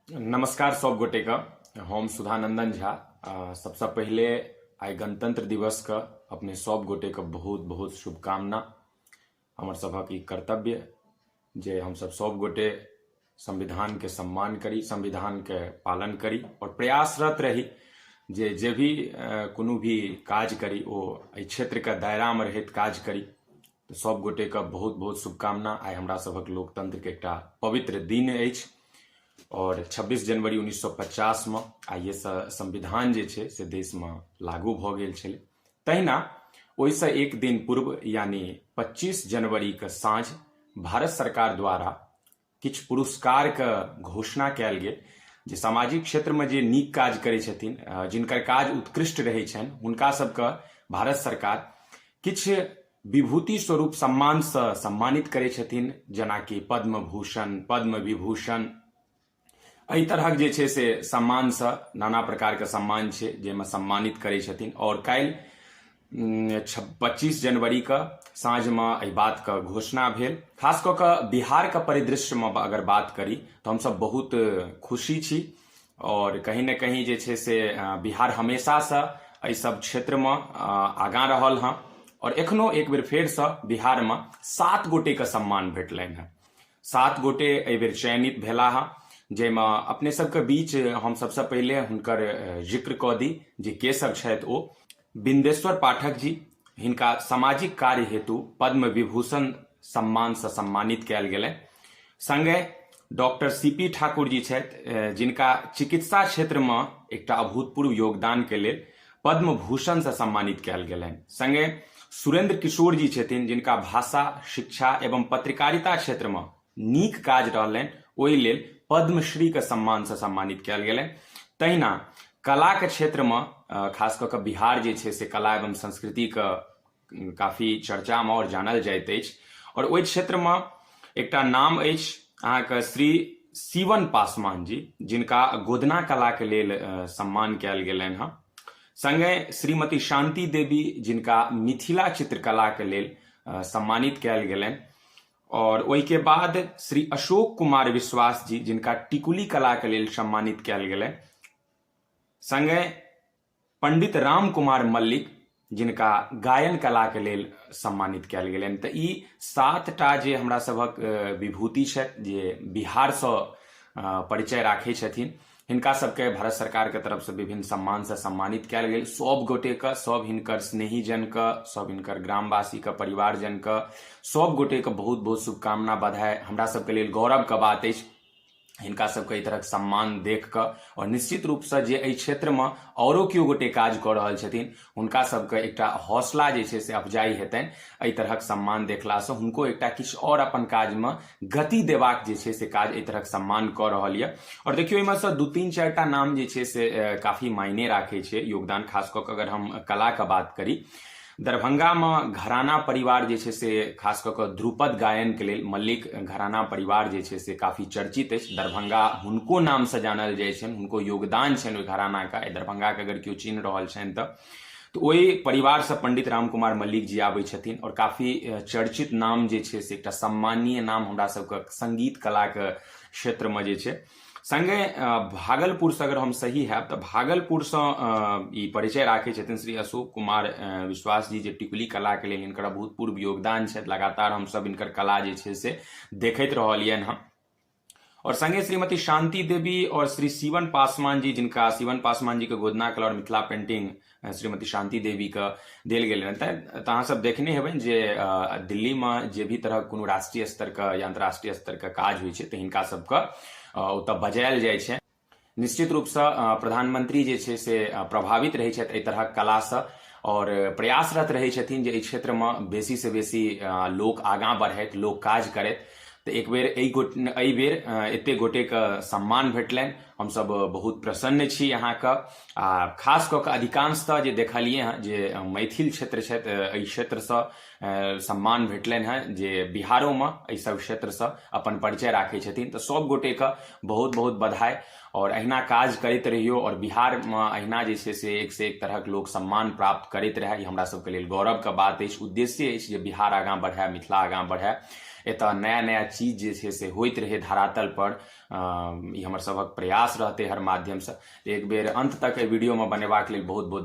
नमस्कार सब गोटे का हम सुधानंदन झा आ, सबसे पहले आइ गणतंत्र दिवस का अपने सब गोटे का बहुत बहुत शुभकामना हमर सभक ई कर्तव्य जे हम सब सब गोटे संविधान के सम्मान करी संविधान के पालन करी और प्रयासरत रही जे जे भी अ, कोनो भी काज करी ओ एहि क्षेत्र के दायरा में रहैत काज करी तऽ सब गोटे के बहुत बहुत शुभकामना आइ हमरा सभक लोकतंत्र के एकटा पवित्र दिन अछि और 26 जनवरी 1950 में आइ ये संविधान जे छै से देश में लागू भऽ गेल छलै तहिना ओहिसँ एक दिन पूर्व यानी 25 जनवरी के साँझ भारत सरकार द्वारा किछु पुरस्कारके घोषणा कयल गेल जे सामाजिक क्षेत्रमे जे नीक काज करै छथिन जिनकर काज उत्कृष्ट रहै छनि हुनका सभके भारत सरकार किछु विभूति स्वरूप सम्मानसँ सम्मानित करै छथिन जेनाकि पद्म भूषण पद्म विभूषण एहि तरहक जे छै से सम्मानसँ नाना प्रकारके सम्मान छै जाहिमे सम्मानित करै छथिन आओर काल्हि पच्चीस जनवरीके साँझमे एहि बातके घोषणा भेल खास कऽ कऽ बिहारके परिदृश्यमे अगर बात करी तऽ हमसभ बहुत खुशी छी आओर कहीं ने कहीं जे छै से बिहार हमेशासँ एहि सभ क्षेत्रमे आगाँ रहल हँ आओर एखनो एक बेर फेरसँ बिहारमे सात गोटेके सम्मान भेटलनि हँ सात गोटे एहि बेर चयनित भेला हँ जाहिमे अपने सभके बीच हम सभसँ पहिले हुनकर जिक्र कऽ दी जे के सभ छथि ओ बिन्देश्वर पाठक जी हिनका सामाजिक कार्य हेतु पद्म विभूषण सम्मानसँ सम्मानित कयल गेलनि सङ्गे doctor C P Thakur ji छथि जिनका चिकित्सा क्षेत्रमे एकटा अभूतपूर्व योगदानके लेल पद्म भूषणसँ सम्मानित कयल गेलनि सङ्गे सुरेन्द्र किशोर जी छथिन जिनका भाषा शिक्षा एवं पत्रकारिता क्षेत्रमे नीक काज रहलनि ओहि लेल पद्मश्रीके सम्मानसँ सम्मानित कयल गेलनि तहिना कलाके क्षेत्रमे खास कऽ कऽ बिहार जे छै से कला एवं संस्कृतिके काफी चर्चामे आओर जानल जाइत अछि आओर ओहि क्षेत्रमे एकटा नाम अछि अहाँके श्री शिवन पासवान जी जिनका गोदना कलाके लेल सम्मान कयल गेलनि हँ संगे श्रीमती शांति देवी जिनका मिथिला चित्रकलाके लेल सम्मानित कयल गेलनि और ओहि के बाद श्री अशोक कुमार विश्वास जी जिनका टिकुली कला के लेल सम्मानित कयल गेलै संगे पंडित राम कुमार मल्लिक जिनका गायन कला के लेल सम्मानित कयल गेलनि तऽ ई सात टा जे हमरा सभक विभूति छथि जे बिहारसँ परिचय राखै छथिन हिनका सबके भारत सरकार के तरफ से विभिन्न सम्मान से सम्मानित कयल गेल सब गोटे के सब हिनकर स्नेही जन के सब हिनकर ग्रामवासी के परिवार जन के सब गोटे के बहुत बहुत शुभकामना बधाई हमरा सबके लेल गौरव के बात अछि हिनका सबके एहि तरहक सम्मान देख कऽ आओर निश्चित रूपसँ जे एहि क्षेत्रमे औरो केओ गोटे काज कऽ रहल छथिन हुनका सबके एकटा हौसला जे छै से अफजाई हेतनि एहि तरहक सम्मान देखलासँ हुनको एकटा किछु आओर अपन काजमे गति देबाक जे छै से काज एहि तरहक सम्मान कऽ रहल यऽ आओर देखियौ एहिमे सँ दू तीन चारिटा नाम जे छै से काफी मायने राखै छै योगदान खास कऽ कऽ अगर हम कलाके बात करी दरभंगामे घराना परिवार जे छै से खास कऽ कऽ ध्रुपद गायनके लेल मल्लिक घराना परिवार जे छै से काफी चर्चित अछि दरभंगा हुनको नामसँ जानल जाइ छनि हुनको योगदान छनि ओहि घरानाके एहि दरभंगाके अगर केओ चिन्ह रहल छनि तऽ तऽ ओहि परिवारसँ पंडित राम कुमार मल्लिक जी आबै छथिन आओर काफी चर्चित नाम जे छै से एकटा सम्मानीय नाम हमरा सबके संगीत कलाके क्षेत्रमे जे छै संगे भागलपुर से अगर हम सही हैब तऽ भागलपुर से ई परिचय राखे छथिन श्री अशोक कुमार विश्वास जी जे टिकुली कला के लेल इनकर अभूतपूर्व योगदान छथि लगातार हम सब इनकर कला जे छै से देखैत रहलियन हँ और संगे श्रीमती शांति देवी और श्री शिवन पासवान जी जिनका शिवन पासवान जी के गोदना कला और मिथिला पेंटिंग श्रीमती शान्ति देवीके देल गेल रहनि तऽ अहाँसभ देखने हेबै जे दिल्लीमे जे भी तरहक कोनो राष्ट्रीय स्तरके या अन्तर्राष्ट्रीय स्तरके काज होइ छै तऽ हिनका सभके ओतऽ बजायल जाइ छै निश्चित रूपसँ प्रधानमंत्री जे छै से प्रभावित रहै छथि एहि तरहक कलासँ आओर प्रयासरत रहै छथिन जे एहि क्षेत्रमे बेसीसँ बेसी लोक आगाँ बढ़थि लोक काज करथि तऽ एक बेर एहि गो एहि बेर एतेक गोटेके सम्मान भेटलनि हमसभ बहुत प्रसन्न छी अहाँके आ खास कऽ कऽ अधिकांशतः जे देखलियै हँ जे मैथिल क्षेत्र छथि एहि क्षेत्रसँ सम्मान भेटलनि हँ जे बिहारोमे एहि सब क्षेत्रसँ अपन परिचय राखै छथिन तऽ सब गोटेके बहुत बहुत बधाई आओर अहिना काज करैत रहियौ आओर बिहारमे अहिना जे छै से एक से एक तरहक लोक सम्मान प्राप्त करैत रहए ई हमरा सबके लेल गौरवके बात अछि उद्देश्य अछि जे बिहार आगाँ बढ़ए मिथिला आगाँ बढ़ए एतऽ नया नया चीज जे छै से होइत रहै धरातल पर ई हमर सभक प्रयास रहतै हर माध्यमसँ एक बेर अन्त तक एहि वीडियोमे बनेबाक लेल बहुत बहुत